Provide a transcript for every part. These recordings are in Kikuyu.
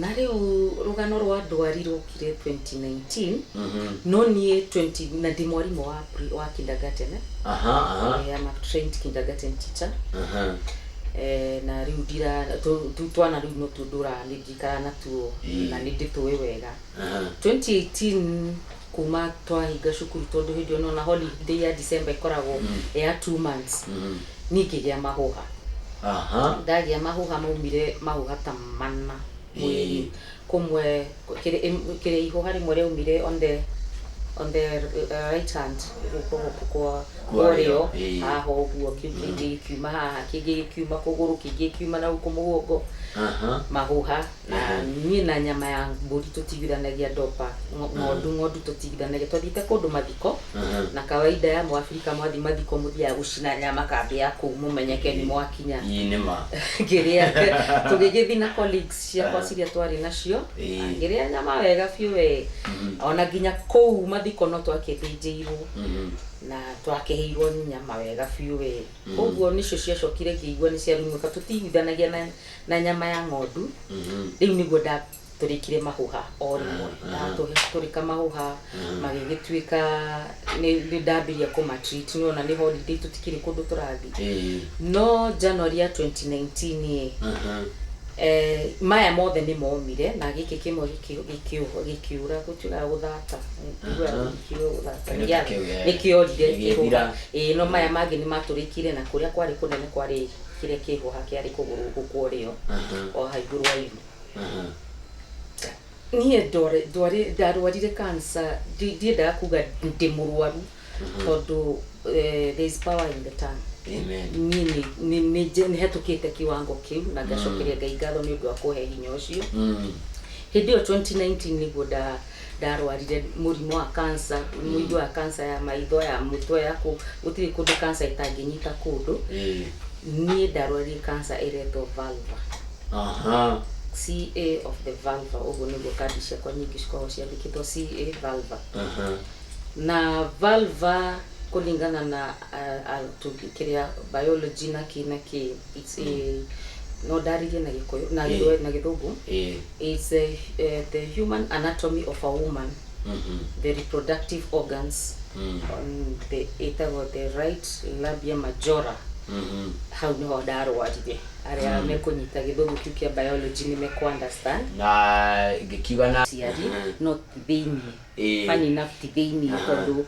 Na rĩu rũgano rwa ndwari rwokire 2019 no niĩ 20 na ndĩ mwarimũ wa pre- wa kindergarten eh? Eh, I'm a trained kindergarten teacher Eh, na rĩu ndira tũ- tũ- twana rĩu no tuo ndũraga nĩ ndikara natuo na nĩ ndĩtũĩ wega 2018 kuma twahinga cukuru tondũ hĩndĩ ĩyo nona holiday ya December ĩkoragwo ya two months niĩ ngĩgĩa mahũha aha ndagĩa mahũha maumire mahũha ta mana mwĩrĩ Ĩĩ. kũmwe kĩrĩ ĩm- kĩrĩ ihũha rĩmwe rĩaumire on the on the uh, right hand guoko gũkũ kwa Kwa ũrĩo, ũrĩo ĩĩ. haha ũguo kĩu kĩngĩ gĩkiuma haha kĩngĩ gĩkiuma kũgũrũ kĩngĩ gĩkiuma nahau kũmũgongo aha mahũha na niĩ na nyama ya mbũri tũtigithanagia ndopa ngo- ng'ondu ng'ondu tũtigithanagia twathiĩte kũndũ mathiko na kawaida ya mũabirika mwathi mathiko mũthiaga gũcina nyama kambĩ ya kũu mũmenyeke nĩ mwakinya ii nĩ ma ngĩrĩa tũgĩgĩthi na colleagues ciakwa ciria twarĩ nacio Ĩĩ. ngĩrĩa nyama wega biũ we ona nginya kũu mathiko no twakĩthĩnjĩirwo na twakĩheirwo nyama wega biũ we ũguo nĩcio ciacokire ngĩigua nĩ ciarumũka tũtiiguithanagia na na nyama ya ng'ondu rĩu nĩguo ndatũrĩkire mahũha o rĩmwe ndatũrĩka mahũha magĩgĩtuĩka nĩ nĩ ndambĩria kũma treat nĩwona nĩ holiday tũtikĩrĩ kũndũ tũrathiĩ Ĩĩ. no January ya 2019 ĩ eh, maya mothe nĩ momire na gĩkĩ kĩmwe gĩkĩ- gĩkĩũho- gĩkĩũra gũtuĩkaga gũthata Nĩnjiguaga gĩkĩũra gũthata Kĩndũ nĩgĩa- takĩu, eh. nĩkĩorire Gĩgĩthira. kĩhũha ĩĩ no maya mangĩ nĩ matũrĩkire na kũrĩa kwarĩ kũnene kwarĩ Kĩrĩa kĩ ho hake arĩ kũgũrũ gũkũ ũrĩ yo, o ha igũrũ wa iru. Niĩ ndarwarire cancer, ndiendaga kuga ndĩ mũrwaru tondũ there is power in the tongue. Niĩ nĩ hetũkĩte kĩwango kĩu na ngacokeria Ngai ngatho nĩ ũndũ wa kũhe hinya ũcio. Hĩndĩ ĩyo 2019 nĩguo ndarwarire mũrimũ wa cancer mũigua wa cancer ya maitho ya mũtwe ya kũ gũtirĩ kũndũ cancer ĩtangĩnyita kũndũ Eh, niĩ ndarwarire cancer ĩretwo vulva aha CA of the vulva ũguo nĩguo kandi ciakwa nyingĩ cikoragwo ciandĩkĩtwo CA vulva aha na vulva kũringana na ah, ah, tũngi- kĩrĩa biology na kĩ na kĩ it's a no ndarĩrie na gĩkũyũ na Eh. gĩthwe- na gĩthũngũ Eh, It's the, uh, the human anatomy of a woman the reproductive organs on the ĩtagwo the right labia majora hau nĩho ndarwarire arĩa mekũnyita gĩthũngũ kĩu kĩa biology nĩ mekũunderstand na ngĩkiuga na ciari no ti thĩinĩ Eh. funny enough ti thĩinĩ tondũ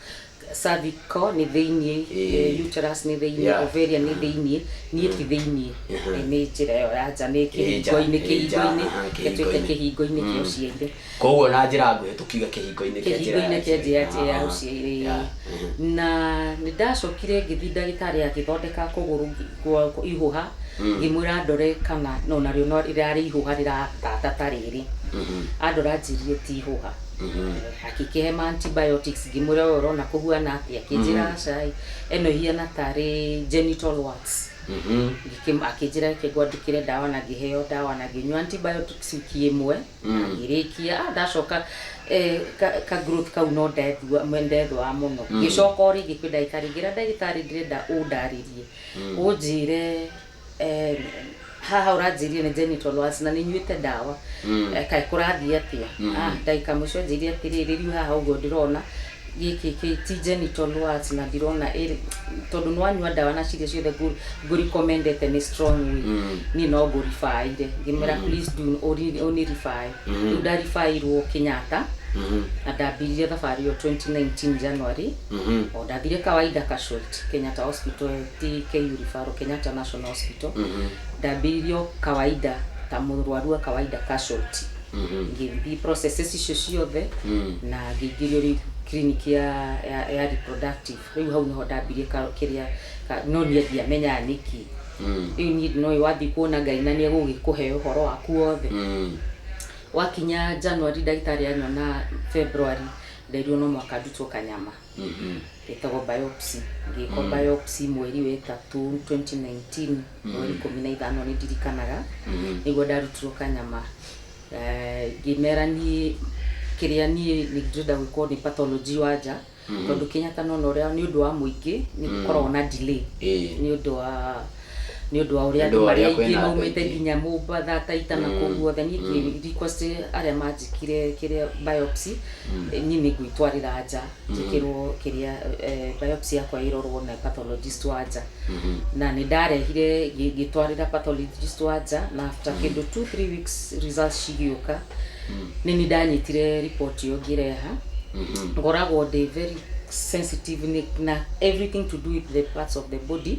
cervical nĩ thĩiniĩ Ĩĩ. eh, uterus nĩ thĩiniĩ Yeah. ovarian nĩ thĩiniĩ niĩ ti thĩiniĩ Mhm. Eh, nĩ njĩra ĩyo ya nja nĩ Ĩ nja, kĩhingo-inĩ ĩ nja, kĩhingo-inĩ aha, gĩtuĩke kĩhingo-inĩ. kĩhingo-inĩ kĩa Mm. ũciari koguo na njĩra nguhĩ tũkiuge kĩhingo-inĩ kĩa njĩra kĩhingo-inĩ kĩa njĩra ya njĩra ya Ah, ũciari yeah, mhm. na nĩ ndacokire ngĩthiĩ ndagĩtarĩ agĩthondeka kũgũrũ gwa- kwa- ihũha Mm. ngĩmwĩra ndore kana no narĩo no rĩrarĩ ihũha rĩratata ta rĩrĩ Mhm. andora anjĩrire ti ihũha akĩkĩhe ma antibiotics ngĩmwĩra we ũrona kũhuana atĩa akĩnjĩra cai ĩno ihiana tarĩ genital warts Ngĩkĩm- akĩnjĩra reke ngwandĩkĩre ndawa na ngĩheo ndawa na ngĩnyua antibiotics wiki ĩmwe na ngĩrĩkia ah, ndacoka eh, ka, ka growth kau no ndethua- me- ndethũa mũno ngĩcoka o rĩngĩ kwĩ ndagĩtarĩ ngĩra ndagĩtarĩ ndĩrenda ũndarĩrie ũnjĩre Eh, haha ũranjĩria nĩ njeni tondũ waci na nĩ nyuĩte ndawa Mm. Eh, kaĩ kũrathiĩ atĩa Mhm. Ah, ndagĩka mũico njĩria atĩrĩrĩ riu haha ũguo ndĩrona gĩkĩ kĩ- ti njeni tondũ waci na ndirona ĩrĩ- tondũ nĩ wanyua ndawa na ciria ciothe ngũ- ngũrĩkomendete nĩ strong way Mm. niĩ no ngũribaĩre ngĩmera please do ũri- ũnĩribaĩ Mhm. rĩu ndaribaĩirwo Kenyatta Mhm. na ndambiririe thabarĩ ĩyo 2019 January Mhm. o ndathire kawaida casualty Kenyatta hospital KU Referral Kenyatta National Hospital, ndambĩrĩirio kawaida ta mũrwaru wa kawaida casualty. Ngĩthiĩ processes icio ciothe na ngĩingĩrio rĩu clinic ya, ya, ya reproductive. Rĩu hau nĩho ndambirie ka, kĩrĩa, ka, no niĩ ndiamenyaga nĩkĩ. Rĩu niĩ ndinoĩ wathiĩ kuona Ngai na nĩegũgĩkũhe ũhoro waku wothe. Gwakinya January ndagĩtarĩ anyona February nderirwo no mũhaka ndutwo kanyama. ĩtagwo biopsy ngĩkwo biopsy mweri wa ĩtatũ 2019 mweri ikũmi na ithano nĩ ndirikanaga nĩguo ndarutirwo kanyama Eh, ngĩmera niĩ kĩrĩa niĩ nĩ ndĩrenda gwĩkwo nĩ pathology wa nja tondũ Kenyatta nona ũrĩa nĩ ũndũ wa mũingĩ nĩ gũkoragwo na delay Ĩĩ. nĩ ũndũ wa nĩ ũndũ wa ũrĩa andũ marĩa aingĩ maumĩte nginya Mombatha, Taita na kũu guothe niĩ ingĩ request arĩa manjĩkire kĩrĩa biopsy niĩ nĩ ngwĩtwarĩra nja njĩkĩrwo kĩrĩa biopsy yakwa ĩrorwo na pathologist wa nja na nĩ ndarehire ngĩtwarĩra pathologist wa nja na after kĩndũ two three weeks results cigĩũka nĩ nĩ ndanyitire report ĩyo ngĩreha ngoragwo ndĩ very sensitive na everything to do with the parts of the body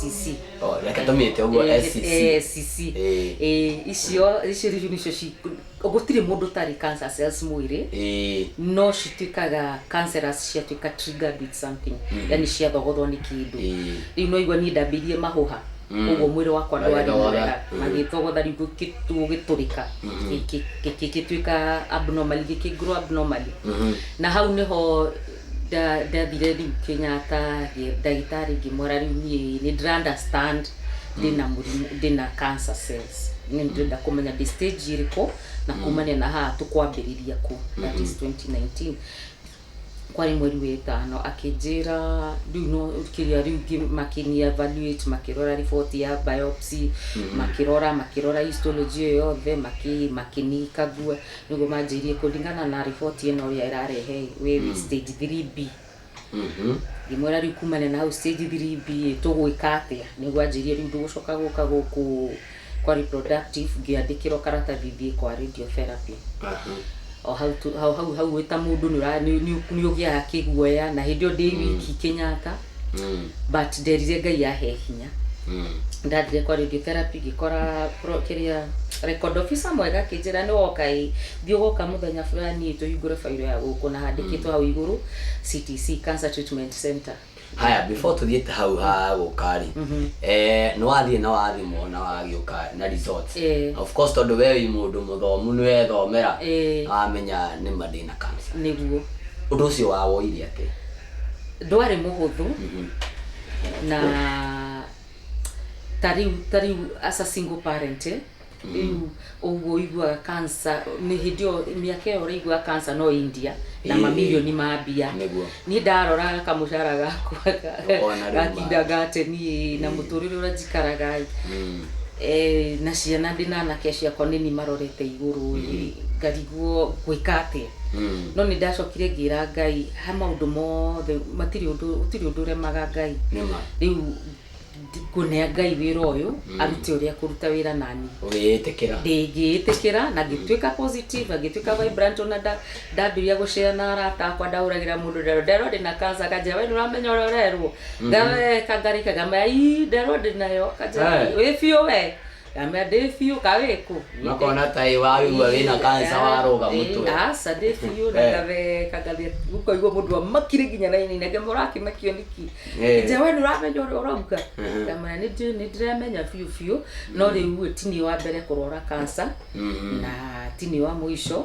cici Oh, reke tũmĩte ũguo Eh, SCC. eh, cici Eh. Eh, icio icio rĩu nĩcio ci- gũtirĩ mũndũ ũtarĩ cancer cells mwĩrĩ Ĩĩ. no cituĩkaga cancerous ciatuĩka triggered with something yani ciathogothwo nĩ kĩndũ Ĩĩ. rĩu no igua niĩ ndambĩirie mahũha Mm. ũguo mwĩrĩ wakwa ndwarĩ Magĩthogotha. mwega Mm. magĩthogotha rĩu gũkĩ- gũgĩtũrĩka Mhm. Gĩkĩ- gĩkĩ- gĩtuĩka abnormal gĩkĩngirwo abnormal Mhm. na hau nĩho Ndathire rĩu Kenyatta ndagĩtarĩ ngĩmwĩra rĩu niĩ nĩ ndĩra understand ndĩna mũrimũ ndĩna cancer cells nĩ ndĩrenda kũmenya ndĩ stage ĩrĩkũ na kumania na haha tũkwambĩrĩria kũ that is 2019 kwarĩ mweri wa ĩtano akĩnjĩra rĩu no kĩrĩa rĩu ngĩ- makĩni evaluate makĩrora riboti ya biopsy makĩrora makĩrora histology ĩyo yothe makĩ- makĩnikagua nĩguo manjĩirie kũringana na riboti ĩno ũrĩa ĩrarehe wĩ wĩ stage 3B ngĩmwĩra rĩu kumane na hau stage 3B ĩ, tũgwĩka atĩa nĩguo anjĩirie rĩu ndũgũcoka gũka gũkũ kwa reproductive ngĩandĩkĩrwo karatathi thiĩ kwa radio therapy o hau tu- hau hau hau wĩ ta mũndũ nĩ ũra- nĩ- nĩ- nĩ ũgĩaga kĩguoya na hĩndĩ ĩyo ndĩ wiki Kenyatta Mm. but nderire ngai ahe hinya Mm. ndathire kwa radiotherapy ngĩkora pro- kĩrĩa record officer mwega akĩnjĩra nĩ woka ĩ thiĩ ũgoka mũthenya fulani tũhingũre bairo ya gũkũ na handĩkĩtwo hau igũrũ ctc cancer treatment center haya before tuthiĩte hau ha gũka rĩ Mhm. eh, nĩ wathiĩ na wathimwo na wagĩũka na results Eh. of course tondũ we wĩ mũndũ mũthomu nĩ wethomera Eh. wamenya nĩ ma ndĩna cancer nĩguo ũndũ ũcio wawoire atĩa Ndwarĩ mũhũthũ na ta rĩu ta rĩu as a single parent rĩu mm. ũguo ũiguaga cancer nĩ hĩndĩ ĩyo mĩaka ĩyo ũraiguaga cancer no India na mamirioni ma mbia niĩ ndarora kamũcara gakwa gatinda gate niĩ na mm. mũtũrĩre ũrĩa njikaraga mm. eh, na ciana ndĩ na anake ciakwa nĩ ni marorete igũrũ ngariguo ngwĩka atĩa no nĩ ndacokire ngĩra ngai ha maundu mothe matiri undu utiri undu uremaga ngai Nĩma. riu ngunea ngai wira uyu arute uria kuruta wira nani ũgĩĩtĩkĩra ndingĩĩtĩkĩra na ngĩtuĩka positive na ngĩtuĩka vibrant ona nda- ndambĩrĩria gũcera na arata akwa ndahũragĩra mũndũ ndero ndero ndĩ na kansa akanjĩra we nĩũramenya ũrĩa ũrerwo ngaweka ngarĩkaga maya ii ndero ndĩ nayo akanjĩra Aye. wĩ biũ we Ndamwĩra ndĩ biũ ka wĩkũ. Makona ta ĩ waigua wĩna kansa waroga mũtwe. Eh, Aca ndĩ biũ na Eh. ngatheka ngatheka ũkaigua mũndũ amakire nginya na ini nake mũrakĩmakio nĩki. Eh. Nje we nĩũramenya ũrĩa ũrauga. Mhm. Ndamwĩra nĩ ndĩ- nĩ ndĩramenya biũ biũ no rĩu ũyũ ti niĩ wa mbere kũrwara kansa Mhm. na ti niĩ wa mũico.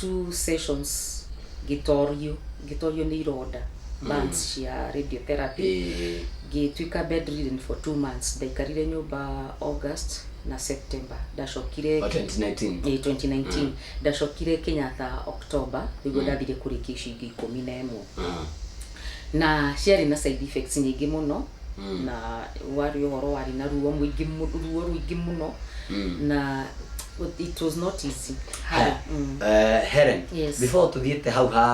two sessions ngĩtorio ngĩtorio nĩ ironda burns cia radiotherapy Ĩĩ. ngĩtuĩka bedridden for two months ndaikarire nyũmba august na september ndacokire Wa 2019. Ĩĩ, 2019 ndacokire kenyatta october nĩguo ndathire kũrĩkia icio ingĩ ikũmi na ĩmwe Ah. na ciarĩ na side effects nyingĩ mũno Mm. na warĩ ũhoro warĩ na ruo mũingĩ mu- ruo rũingĩ mũno Mm. na it was not easy Haya. Mm. Eh, Helen, Yes. before tuthiĩte hau ha,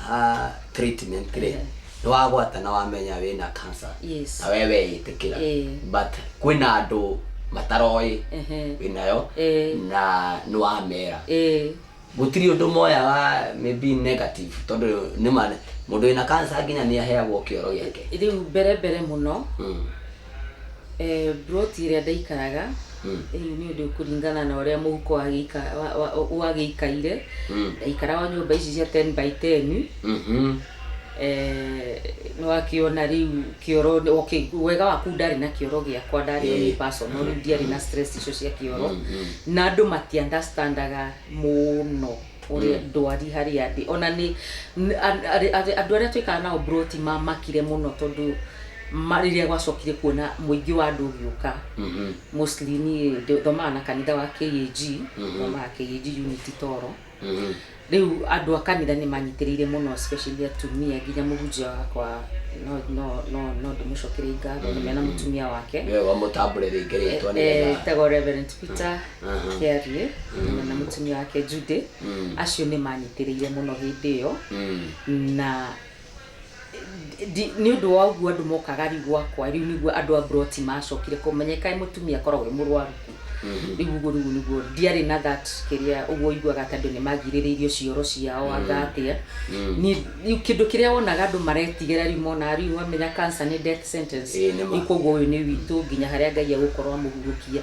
ha treatment rĩ Yeah. nĩ wagwata na wamenya wĩna cancer Yes. na we weĩtĩkĩra Eh. but kwĩna andũ mataroĩ Ehe. wĩnayo Eh. na nĩ wamera Eh, Gũtirĩ ũndũ moyaga maybe negative tondũ nĩma mũndũ wĩna cancer nginya nĩaheagwo kĩoro gĩake. Rĩu mbere mbere mũno plot ĩrĩa ndaikaraga rĩu nĩ ũndũ kũringana na ũrĩa mũhuko wagĩikaire ndaikaraga o nyũmba ici cia ten by ten. Nĩ wakĩona rĩu kĩoro, okay, wega waku ndarĩ na kĩoro gĩakwa ndarĩ o niĩ personal rĩu ndiarĩ na stress icio cia kĩoro. Na andũ mati understandaga mũno ũrĩa ndwari harĩa ndĩ. Ona nĩ, andũ arĩa twaikaraga nao bro ti mamakire mũno tondũ rĩrĩa gwacokire kuona mũingĩ wa andũ ũgĩũka, mostly niĩ thomaga na kanitha wa KAG, thomaga KAG unit Toro. Rĩu andũ a kanitha nĩ manyitĩrĩire mũno especially atumia nginya mũhunjia wakwa no no no no ndĩmũcokerie ngatho nĩ mena mũtumia wake nĩwe wamũtambũre rĩngĩ rĩtwa Eh, nĩgetha etagwo Reverend Peter aha. Kĩariĩ hamwe na mũtumia wake Judy acio nĩ manyitĩrĩire mũno hĩndĩ ĩyo Mm. na Nĩ ũndũ wa ũguo andũ mokaga rĩu gwakwa, rĩu nĩguo andũ a mburoti macokire kũmenya kaĩ mũtumia akoragwo e mũrwaru kũ. Rĩu ũguo rĩu nĩguo ndiarĩ na that kĩrĩa ũguo ũiguaga atĩ andũ nĩ mangirĩrĩirio cioro ciao anga atĩa. Niĩ rĩu kĩndũ kĩrĩa wonaga andũ maretigĩra rĩu monaga rĩu wamenya cancer nĩ death sentence. Ĩĩ nĩ ma. Rĩu koguo ũyũ nĩ witũ nginya harĩa Ngai egũkorwo amũhurũkia.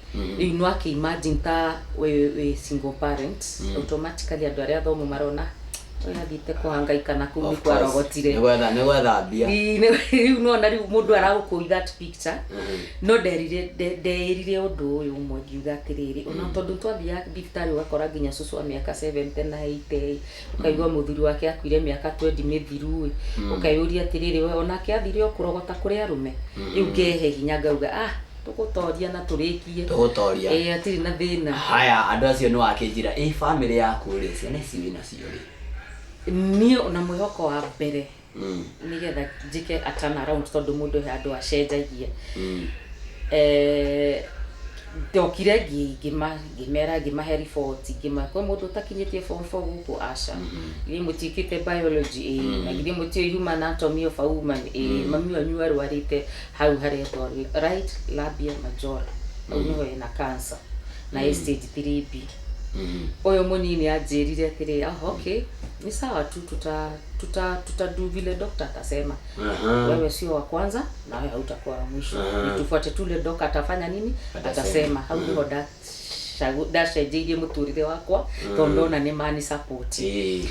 rĩu no akĩ imagine ta wĩ wĩ single parent automatically andũ arĩa athomu marona ũyũ athiĩte kũhangaika na kũu nĩ Of course. kwarogotire Nĩ gwetha- nĩ gwetha mbia Ii, nĩ- rĩu nona rĩu mũndũ aragũkũi that picture no nderire nde- ndeĩrire ũndũ ũyũ ũmwe ngiuga atĩrĩrĩ ona tondũ twathiaga thibitarĩ ũgakora nginya cũcũ wa mĩaka 70 na 80 ũkaigua mũthuri wake akuire mĩaka 20 mĩthiru ĩ ũkeyũria atĩrĩrĩ we onake athire o kũrogota kũrĩ arũme rĩu ngehe hinya ngauga ah tũgũtoria na tũrĩkie tũgũtoria ĩĩ atirĩ na thĩna haya andũ acio nĩ wakĩnjĩra ĩ bamĩrĩ yaku rĩ ciana ici wĩnacio rĩ niĩ ona mwĩhoko wa mbere nĩgetha njĩke a turn around tondũ mũndũ he handũ acenjagia Eh, ndokire ngi- ngĩma- ngĩmera ngĩmahe riboti ngĩma kwĩ mũndũ ũtakinyĩtie form four gũkũ aca githĩ mũtiĩkĩte biology ĩĩ na githĩ mũtiũĩ human anatomy of a woman ĩĩ mami wanyu arwarĩte hau haretwo right labia majora hau nĩho ena cancer na ĩ stage 3b ũyũ mũnini anjĩrire atĩrĩ oh, okay nĩ sawa tu tuta tuta tuta do vile dokta atasema Aha. wewe sio wa kwanza na wewe hautakuwa wa mwisho Aha. Ni tufuate tule dok atafanya nini Atasema. atasema hau niho ndacagu- ndacenjeirie mũtũrĩre wakwa tondũ ndona nĩ mani support Eh,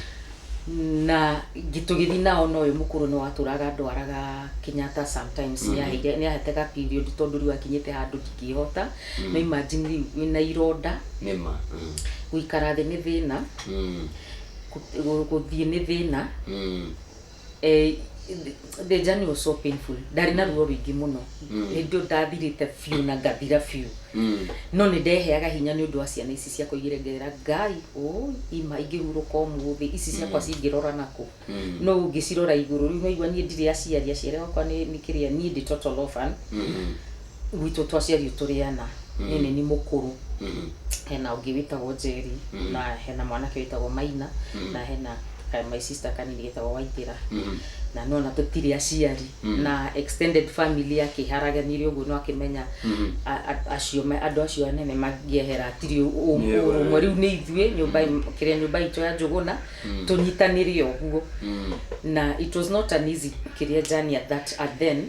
na tũgĩthiĩ nao no ũyũ mũkũrũ nĩ watũraga ndwaraga Kenyatta sometimes mm -hmm. nĩ ahete ga period tondũ rĩu akinyĩte handũ ndingĩhota mm. na imagine rĩu wĩna ironda nĩ ma Mm. gũikara thĩ nĩ thĩna Mm. kũ- gũthiĩ nĩ thĩna Mm. eh, the journey was so painful ndarĩ na ruo rũingĩ mũno nĩ ndũ ndathirĩte biũ na ngathira biũ Mm. no nĩ ndeheaga hinya nĩ ũndũ wa ciana ici ciakwa igĩrengerera ngai ũ ima ingĩhurũka ũmũthĩ ici ciakwa cingĩrora nakũ Mm. no ũngĩcirora igũrũ rĩu waigua niĩ ndirĩ aciari aciari akwa nĩ nĩ kĩrĩa niĩ ndĩ total orphan Mm. gwitũ twaciario tũrĩ ana niĩ nĩ ni mũkũrũ hena ũngĩ wĩtagwo Njeri na hena mwanake wĩtagwo Maina na hena ka my sister kanini getagwo Waithĩra na nona tũtirĩ aciari na extended family akĩharaganirie ũguo no akĩmenya a- a- acio me- andũ acio anene mangĩehera atirĩ ũ- ũ- Nĩ ũguo, ũrũmwe rĩu nĩ ithuĩ nyũmba kĩrĩa nyũmba itũ ya Njũgũna tũnyitanĩre ũguo na it was not an easy kĩrĩa journey at that at then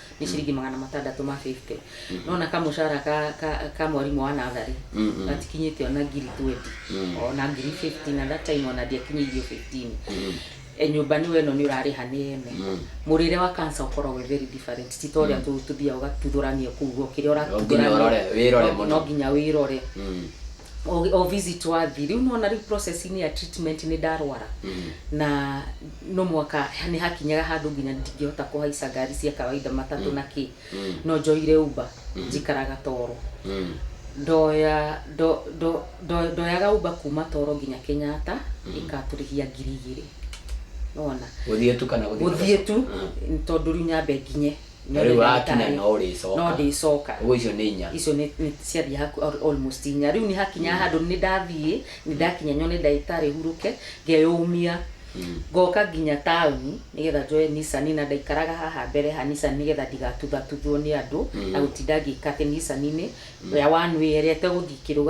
nĩ ciringi magana matandatũ ma 50 nona kamucara ka, ka, ka mwarimũ wa natharĩ gatikinyĩte ona ngiri 20 ona ngiri 15 na that time ona ndiakinyĩirio 15 E, nyũmba nĩ weno nĩ ũrarĩha nĩ ene mũrĩre wa kansa ũkoragwo wĩ very different ti ta ũrĩa tũ- tũthiaga ũgatuthũrania kũu ũguo kĩrĩa ũratuthũrania ũrore, wĩrore no- mũno. no nginya wĩrore o, o visit wathi rĩu nona rĩu process-inĩ ya treatment nĩ ndarwara na no mwaka nĩ hakinyaga handũ nginya ndingĩhota kũhaica ngari cia kawaida matatũ na kĩ no njoire uba njikaraga toro ndoya ndo- ndo- ndo- ndoyaga uba kuma toro nginya kenyatta ĩkatũrĩhia ngiri igĩrĩ nona gũthiĩ tu kana gũthiĩ gũthiĩ tu tondũ rĩu nyambe nginye No rĩu ndagĩtarĩ, wakinya no ũrĩcoka. no ndĩcoka Ũguo icio nĩ inya. icio nĩ nĩ ciathiĩ haku al- almost inya rĩu nĩ hakinya handũ nĩ ndathiĩ nĩ ndakinya nyone ndagĩtarĩ hurũke ngeyũmia ngoka nginya taũni nĩgetha njoe nisani na ndaikaraga haha mbere ha nisani nĩgetha ndigatuthatuthuo nĩ andũ na gũtinda ngĩka atĩ nisani-inĩ ya wanwĩyerete gũthiĩ kĩrũga